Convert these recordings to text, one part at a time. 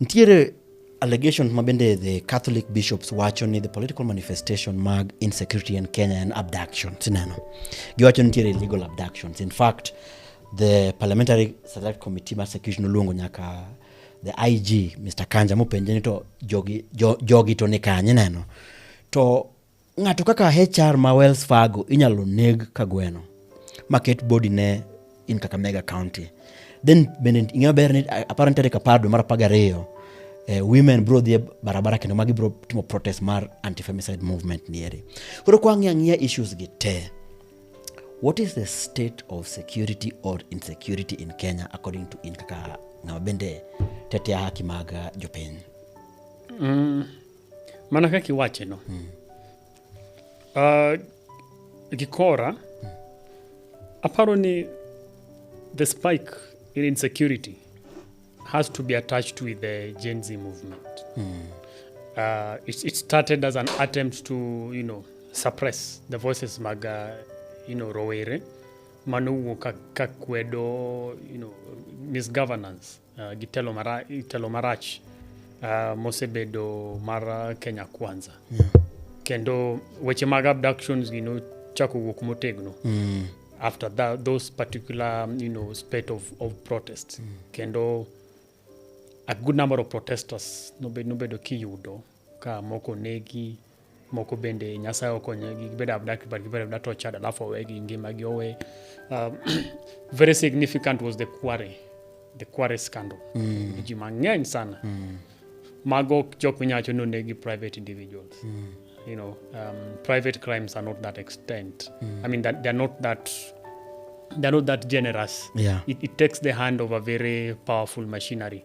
Ntiere allegations ma bende the Catholic bishops wacho ni the political manifestation mag insecurity in Kenya and abductions ineno. Giwacho ni nitiere illegal abductions. In fact, the parliamentary select committee mar security noluongo nyaka the IG Mr. Kanja mopenje ni to jogi, jo, jogi to ni kanye neno. To Ng'ato kaka HR ma Wells Fargo inyalo neg ka gweno maket body ne in Kakamega County. Then bende ing'eyo ber ni aparo nitiere kapar dwe mar apar gariyo eh, women bro dhi e barabara kendo magi bro timo protest mar anti-femicide movement nieri. Koro kwa ng'iya ng'iya issues gi te. What is the state of security or insecurity in Kenya according to in kaka ng'ama bende tetea haki mag jopiny? Mm. mana kaka iwache no Ah, gikora aparo ni the spike in insecurity has to be attached with the gen z movement uh, it, it started as an attempt to you know suppress the voices mag uh, you know rowere manowuok ka, ka kwedo you know misgovernance uh, gi telo marach, telo marach uh, mosebedo mar uh, Kenya Kwanza yeah. kendo weche mag abductions gi nochako wuok motegno mm. after that, those particular you know, spate of, of protest mm. kendo a good number of protesters nobedo, nobedo kiyudo Ka moko onegi, moko bende Nyasaye okonyogi gibedo abda but gibedo abda tortured alafu owegi ngimagi owe. Um, very significant was the quarry, the quarry scandal. Mm. Ji mang'eny sana. Mm. Mago jok minyalo wacho ni onegi private individuals. Mm. You know, um, private crimes are not that extent. Mm. I mean that they're not that they're not that generous. Yeah. It, it takes the hand of a very powerful machinery.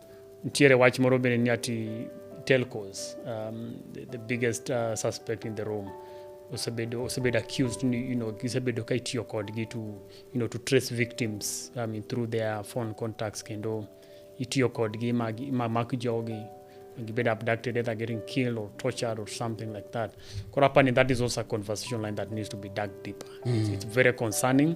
Nitiere wach moro bende ni ati telcos um, the, the biggest uh, suspect in the room osebedo osebedo accused ni you know gisebedo ka itiyo kodgi to you know to trace victims I mean through their phone contacts kendo itiyo kodgi ma gi- ma mak jogi gibed abducted either getting killed or tortured or something like that koro apani that is also a conversation line that needs to be dug deeper it's, it's very concerning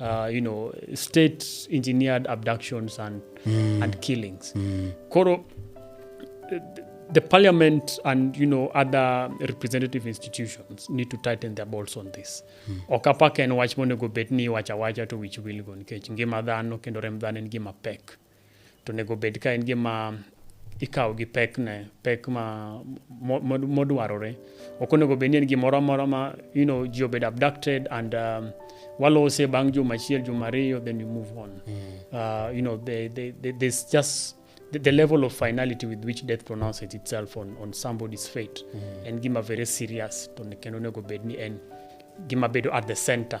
uh, you know, state engineered abductions and, mm. and killings. Mm. Koro, the parliament and you know other representative institutions need to tighten their bolts on this mm. ok apak en wach monego bed ni iwacho awacha to wich wilgo nikech ngima dhano kendo remb dhano en gima pek to onego obed ka en gima ikawo gi pekne pek ma modwarore ok onego bed ni en gimoro amora ma you know ji obed abducted and um, walose bang' juma achiel juma ariyo then you move on mm. uh, you know they, they, they, there's just the, the level of finality with which death pronounces itself on, on somebody's fate mm. en gima very serious to kendo onego bed ni en gima bedo at the center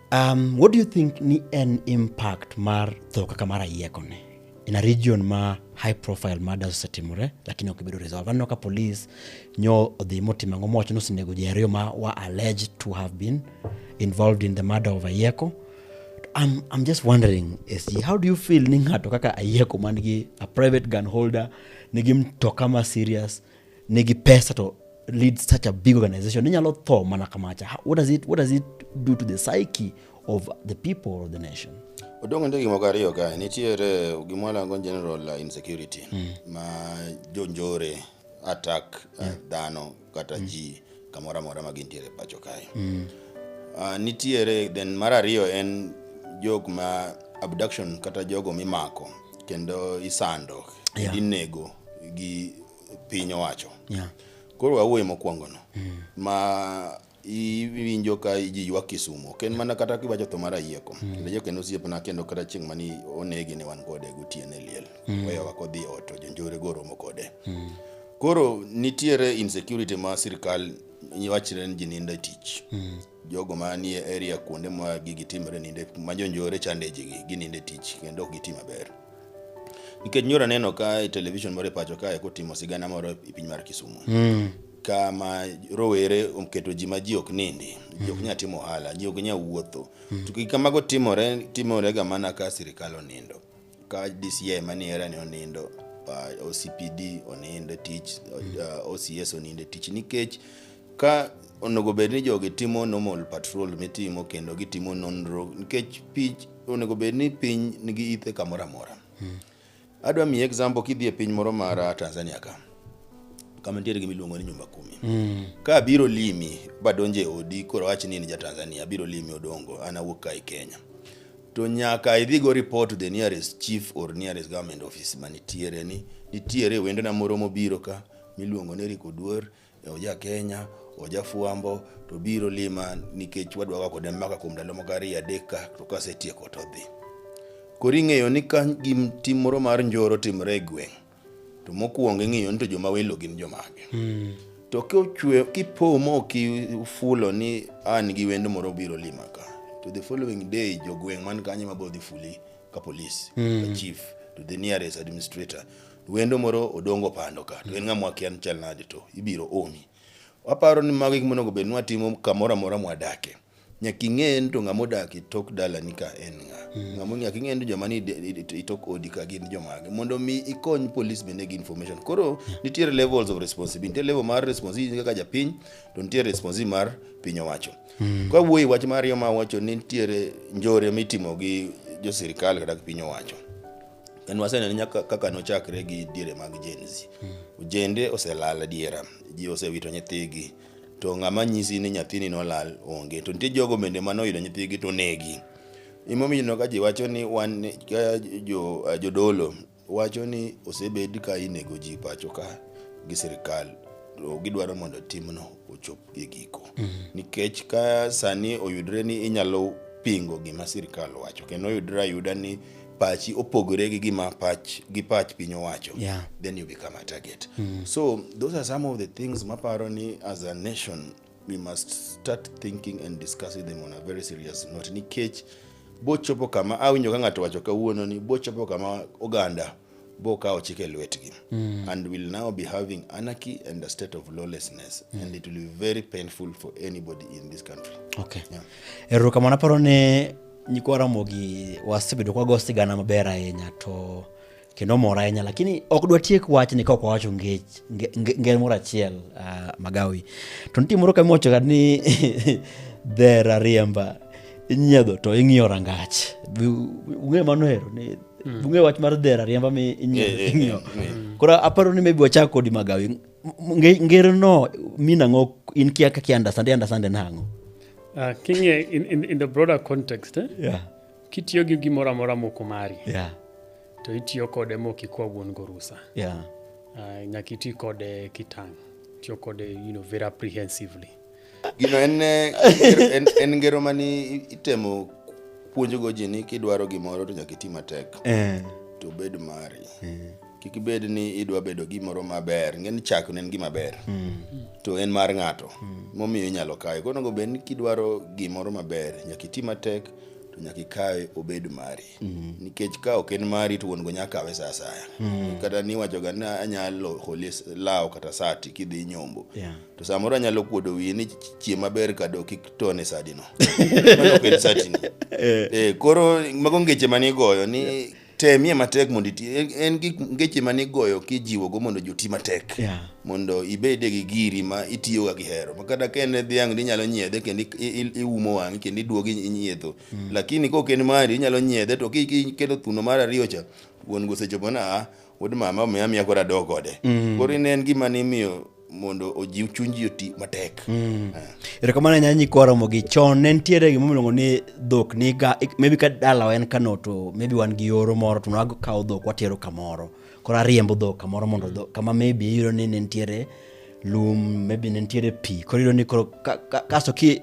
Um, what do you think ni en impact mar tho kaka mar ayieko ni in a region ma high profile murders osetimore lakini ok ibedo resolve aneno ka police nyo odhi motimo ang'o mowacho ni osenego ji ariyo ma wa alleged to have been involved in the murder of ayieko I'm, I'm just wondering SG, how do you feel ni ng'ato kaka ayieko man gi a private gun holder nigi mtoka ma serious nigi pesa to lead such a big organization inyalo tho mana kamacha what does it, what does it do to the psyche of the people of the nation odong' nitie gimoko ariyo kae nitiere gimwalango general insecurity mm. ma jonjore attack uh, yeah. uh, dhano kata mm. ji kamoro amora ma gintiere pacho kae mm. uh, nitiere then mar ariyo en jok ma abduction kata jogo mimako kendo isando yeah. inego gi piny owacho Yeah. koro wawuoye mokwongo no ma iwinjo ka ji ywak kisumo ok en mana kata kiwacho tho mar ayieko kendo ayieko en osiepna kendo kata chieng' mani onegi ne wan kode gotieno e liel weyowa kodhi e ot to jonjore go romo kode koro nitiere insecurity ma sirikal wachre ni ji nindo e tich Jogo manie area kuonde ma gigi timre ninde ma jonjore chande ji gi gininde tich kendo ok giti maber. Nikech nyora neno ka e television moro e pacho kae kotimo sigana moro e piny mar Kisumu. Mm. Kama rowere oketo ji ma ji ok nindi, ji ok nyal timo ohala, ji ok nyal wuotho. To gik kamago timore timore ga mana ka sirikal onindo. ka DCI mani era ni onindo uh, OCPD onindo e tich uh, OCS onindo e tich nikech ka onego bed ni jogi timo normal patrol mitimo kendo gitimo nonro nikech piny onego bed ni piny nigi ithe kamoro amora adwa miyi example kidhi e piny moro mar uh, Tanzania ka kama nitiere gima iluongo ni nyumba kumi ka abiro limi badonje odi koro wach ni in ja Tanzania abiro limi odongo an awuok ka e Kenya to nyaka idhi go report to the nearest chief or nearest government office manitiere ni nitiere wendona moro mobiro ka miluongo ni Rick Oduor e oja Kenya oja Fuambo to biro lima nikech wadwa ga kode maka kuom ndalo moko ariyo adek ka to kasetieko to dhi koro ing'eyo ni ka gim tim moro mar njoro timre e gweng' to mokuongo ing'iyo ni to joma welo gin jomage mm. to kochwe kipo mo kifulo ni an gi wendo moro biro lima ka to the following day jogweng' man kanyo mabiro dhi fuli ka police mm. ka chief to the nearest administrator wendo moro odongo pando ka to en ng'ama wakia ni chal nade to ibiro omi waparo ni mago gik monego bed ni watimo kamoro amora mwadakie nyaka ing'e ni to ng'ama odak e tok dalani ka en ng'a ng'ama nyaka ing'e ni to joma ni i- i- i- i tok odi ka gin jomage mondo mi ikony police bende gi information koro nitiere levels of responsibility nitie level mar responsibility kaka japiny to nitie responsibility mar piny owacho kwa wuoyi wach mar ariyo ma wacho ni nitiere njore mitimo gi jo sirikal kata gi piny owacho en waseneno nyaka kaka nochakre gi diere mag Gen Z. Ojende oselal adiera, ji osewito nyithigi. to ng'ama nyisi ni nyathini nolal onge. To nitie jogo bende mane oyudo nyithigi to onegi. Emomiyo ineno ka ji wacho ni wan ka jo jodolo wacho ni osebed ka inego ji pacho ka gi sirikal to gidwaro mondo timno ochop e giko. Nikech ka sani oyudre ni inyalo pingo gima sirikal wacho kendo oyudre ayuda ni pachi opogore gi gima pach gi pach piny owacho Yeah. then you become a target so those are some of the things maparo ni as a nation we must start thinking and discussing them on a very serious note nikech bochopo kama awinjo ka ng'ato wacho kawuono ni bochopo kama oganda bo kawo chike lwetgi and will now be having anarchy and a state of lawlessness and it will be very painful for anybody in this country okay Yeah. erokamano aparo ni nyikwa ramogi wasebedo kwago sigana maber ahinya to kendo mor ahinya lakini ok dwa tiek wachni ka ok wawacho nge- nge- nge- ngero moro achiel ah, magawi to nitie moro kamiwachoga ni dhera riemba inyiedho to ing'iyo rangach Bi- ung'e mano hero ni bung'e wach mar dhera riemba mi Eh, eh, inyiewo eh, eh. koro aparo ni maybe wachak kodi magawi M- nge- ngero no min ang'o in kia kaki understand i understand en ang'o Ah, king'e in, in, in the broader context eh? yeah kitiyo gi gimoro amora moko mari yeah to itiyo kode mok ikwa wuon gorusa yeah uh, nyaka iti kode kitang' tiyo kode you know, very apprehensively Gino en eh, en, en ngero mani itemo puonjogo ji ni kidwaro gimoro to nyaka iti matek eh. to bed mari eh. kik ibed ni idwa bedo gimoro maber ngeni chak ne en gima ber mm. to en mar ng'ato mm. momiyo inyalo kawe koro onego bed ni kidwaro gimoro maber nyaka iti matek to nyaka ikawe obed mari mm. nikech ka ok en mari to wuon go nyaka kawe sa asaya mm. kata niwachoga ni anyalo holi law kata sati kidhi nyombo yeah. to samoro anyalo kuodo wiye ni chie maber ka do kik tone sadino mano ok en satini eh. eh, koro mago ngeche mane igoyo ni yeah. temie matek mondo iti en gi ngeche mane igoyo kijiwogo mondo joti matek yeah. mondo ibede gi giri ma itiyoga gi hero makata ka en dhiang' ni inyalo nyiedhe kendo iumo wang'i kendo iduogi inyiedho mm. lakini kok en mari inyalo nyiedhe to kiketo thuno mar ariyo cha wuon gosechopo na ah, wuod mama omiya miya koro adoo kode mm. koro ine en gima nimiyo mondo ojiw chuny ji oti matek mm. ah. erokamano ahinya nyikwa ramogi chon ne nitiere gima miluongo ni dhok niga maybe ka dalawa en kano to maybe wan gi yoro moro to nakawo dhok watero kamoro koro ariembo dhok kamoro mondo mm. dhok kama maybe iyudo ni ne nitiere lum maybe ne nitiere pi koro iyudo ni koro kasto ki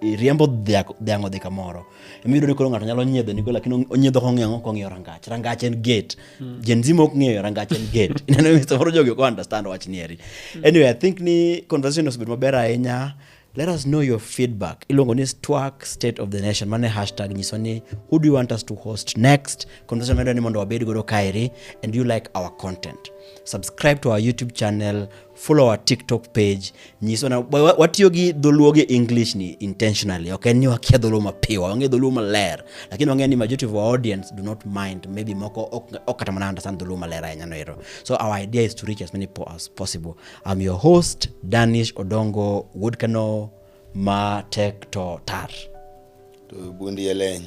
iriembo dhiang' odhi kamoro emiyudo ni koro ng'ato nyalo nyiedho nigo lakini onyiedho kong'iyo ang'o kong'iyo rangach rangach en gate mm. gen z mok ng'eyo rangach en gate ineno ni samoro jogi ok understand wach ni eri hmm. anyway i think ni conversation osebedo maber ahinya let us know your feedback iluongo ni twerk state of the nation mane hashtag nyiso ni who do you want us to host next conversation medo ni mondo wabed godo kaeri and you like our content subscribe to our youtube channel follow our tiktok page nyiso na wa- wa- watiyo gi dholuo gi english ni intentionally ok en ni wakia dholuo mapiwa wang'e dholuo maler lakini wang'e ni majority of our audience do not mind maybe moko ok ok kata mana understand dholuo maler ahinya no ero so our idea is to reach as many po as possible i'm your host danish odongo woodkano ma tek to tar to bundi e leny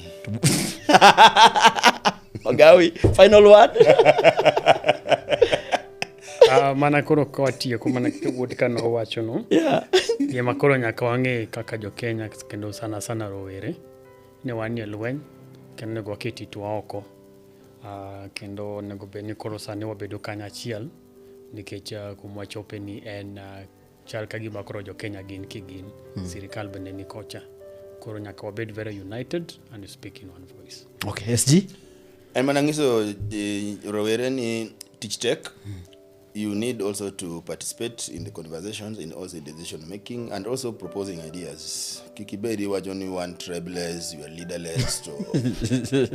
ogawi final word Ah, mana koro ka watieko mana wuod ka nowacho no yeah. gima koro nyaka wang'e kaka jokenya kendo sana sana rowere ni wan e lweny kendo onego waket itwa oko Ah, kendo onego bed ni koro sani wabedo kanyachiel nikech ah, kuma wachope ni en ah, chal ka gima koro jokenya gin kigin mm. sirikal bende ni kocha koro nyaka wabed very united and speak in one voice okay sg en mana ng'iso eh, rowere ni tich tek mm. you need also to participate in the conversations in also decision making and also proposing ideas kikibedi iwacho ni one tribeless you are leaderless to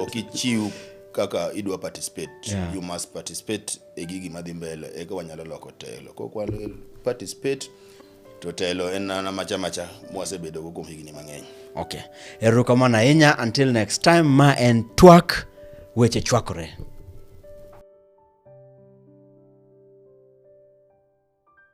okichiw kaka idwa participate yeah. you must participate e gigi madhi mbele eka wanyalo loko telo kokwalo participate to telo en nana macha macha mwasebedo go kuom higni mang'eny okay erokamano ahinya until next time ma en twak weche chwakore